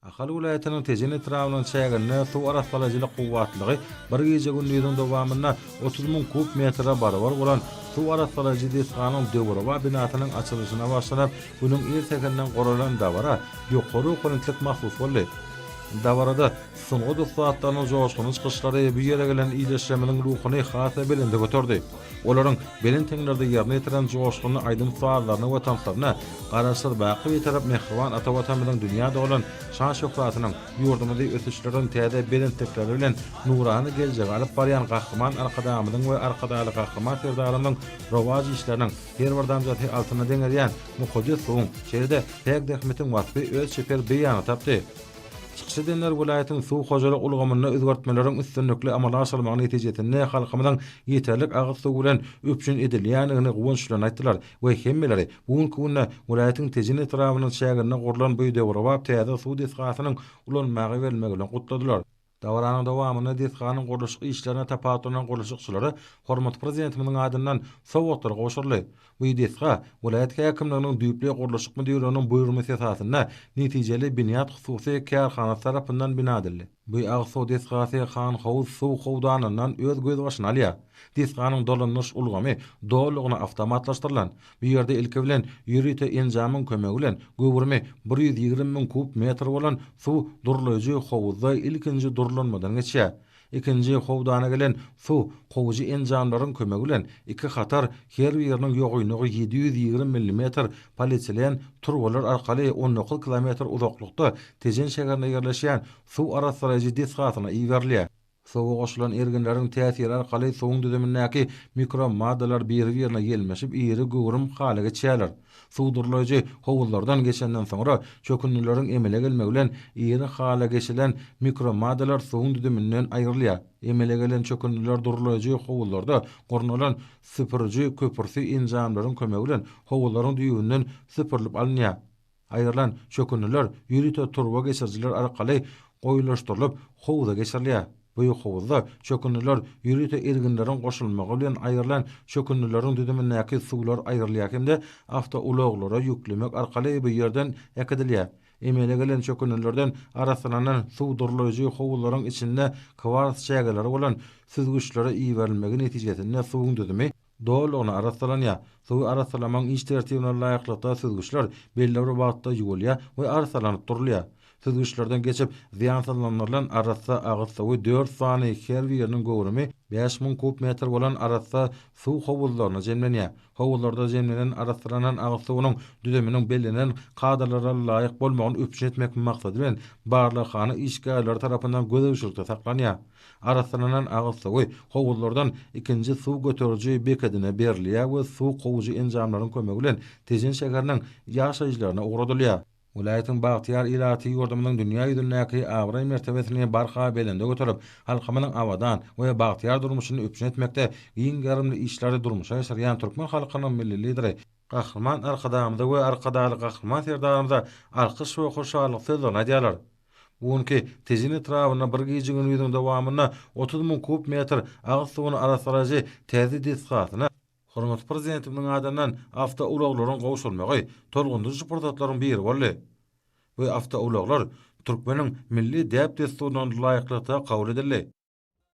Ahal welaýatynyň Tejen etrabynyň çäginde suw arassalaýjylyk kuwwatlygy bir gije-gündiziň dowamynda otuz müň kub metre barabar bolan suw arassalaýjy desganyň döwrebap binasynyň açylyşyna başlanyp, günüň ir säherinden guralan dabara ýokary okonentlik mahsus boldy. Dabarada sungat ussatlarynyň joşgunly çykyşlary bu ýere gelen ildeşlerimiziň ruhuny has-da belende göterdi. Olaryň belent heňlerde ýerine ýetiren joşgunly aýdym-sazlaryna we tanslaryna Garaşsyz, baky Bitarap mähriban ata Watanymyzyň dünýä dolan şan-şöhratynyň, ýurdumyzy ösüşleriň täze belentlikleri bilen nurana geljege alyp barýan Gahryman Arkadagymyzyň we Arkadagly Gahryman Serdarymyzyň rowaç işleriniň her bir damjasy altyna deňelýän mukaddes suwuň, şeýle-de päk zähmetiň waspy öz çeper beýanyny tapdy. Çykyş edenler welaýatyň suw hojalyk ulgamynda özgertmeleriň üstünlikli amala aşyrylmagy netijesinde halkymyzyň ýeterlik agyz suwy bilen üpjün edilýändigini guwançlan aýtdylar we hemmeleri bu günki günde welaýatyň Tejen etrabynyň çäginde gurlan bu döwrebap täze suw desgasynyň ulanmaga berilmegi bilen gutladylar. Dabaranyň dowamynda desganyň gurluşyk işlerine tapawutlanan gurluşykçylara hormatly Prezidentimiziň adyndan sowgatlar gowşuryldy. Bu desga welaýat häkimliginiň düýpli gurluşyk müdirliginiň buýurmasy esasynda netijeli binýat hususy kärhanasy tarapyndan bina edildi. Bu agyz suw desgasy Han Howuz suw howdanyndan öz gözbaşyny alýar. Desganyň dolandyryş ulgamy dolulygyna awtomatlaşdyrylan. Bu ýerde ilki bilen ýörite enjamyň kömegi bilen göwrümi bir ýüz ýigrimi müň kub metr bolan suw durlaýjy howuzda ilkinji durlanmadan geçýär. Ikinji howdana gelen suw kowujy enjamlaryň kömegi bilen iki hatar, her biriniň ýogaýnlygy ýedi ýüz ýigrimi millimetr, polietilen turbalar arkaly on dokuz kilometr uzaklykda Tejen şäherinde ýerleşýän suw arassalaýjy desgasyna iberilýär. Suwa goşulan erginleriň täsiri arkaly suwuň düzümindäki mikromaddalar biri-birine ýelmeşip iri göwrüm hala geçýärler. Suw durlaýjy howuzlardan geçenden soňra, çökündileriň emele gelmegi bilen iri hala geçilen mikromadalar suwuň düzüminden aýrylýar. Emele gelen çökündiler durlaýjy howuzlarda gurnalan süpüriji köpürti enjamlaryň kömegi bilen howuzlaryň düýbünden süpürilip alynýar. Aýrylan çökündiler ýörite turba geçirijiler arkaly goýulaşdyrylyp howuza geçirilýär. Bu ýokabuzda çökündiler ýörite erginleriň goşulmagy bilen aýrylan çökündileriň düzümindäki suwlar aýrylýar hem-de awtoulaglara ýüklemek arkaly bu ýerden äkidilýär. Emele gelen çökündilerden arassalanan suw durlaýjy howuzlaryň içinde kwars çägeleri bolan süzgüçlere iberilmegi netijesinde suwuň düzümi Dolulygyna arassalanýar. Suwy arassalamagyň iş tertibine laýyklykda süzgüçler belli bir wagtda ýuwulýar we arassalanyp durulýar. Süzgüçlerden geçip zyýansazlandyrylan arassa agyz suwy dört sany, her biriniň göwrümi bäş müň kub metr bolan arassa suw howuzlaryna jemlenýär. Howuzlarda jemlenen arassalanan agyz suwunyň düzüminiň bellenilen kadalara laýyk bolmagyny üpjün etmek maksady bilen barlaghana işgärleri tarapyndan gözegçilikde saklanýar. Arassalanan agyz suwy howuzlardan ikinji suw göteriji bekedine berilýär we suw kowujy enjamlaryň kömegi bilen Tejen şäheriniň ýaşaýjylaryna ugradylýar. Welaýatyň bagtyýar ilaty ýurdumyzyň dünýä ýüzündäki abraý-mertebesini barha belende göterip, halkymyzyň abadan we bagtyýar durmuşyny üpjün etmekde giň gerimli işleri durmuşa geçirýän türkmen halkynyň Milli Lideri, Gahryman Arkadagymyza we Arkadagly Gahryman Serdarymyza alkyş we hoşallyk sözlerini aýdýarlar. Bu günki Tejen etrabynda bir gije-gündiziň dowamynda otuz müň kub metr agyz suwuny arassalaýjy täze desgasyna, hormatly Prezidentimiziň adyndan awtoulaglaryň gowşurylmagy tolgundyryjy pursatlaryň biri boldy. Bu awtoulaglar türkmeniň milli däp-dessurlaryna laýyklykda kabul edildi.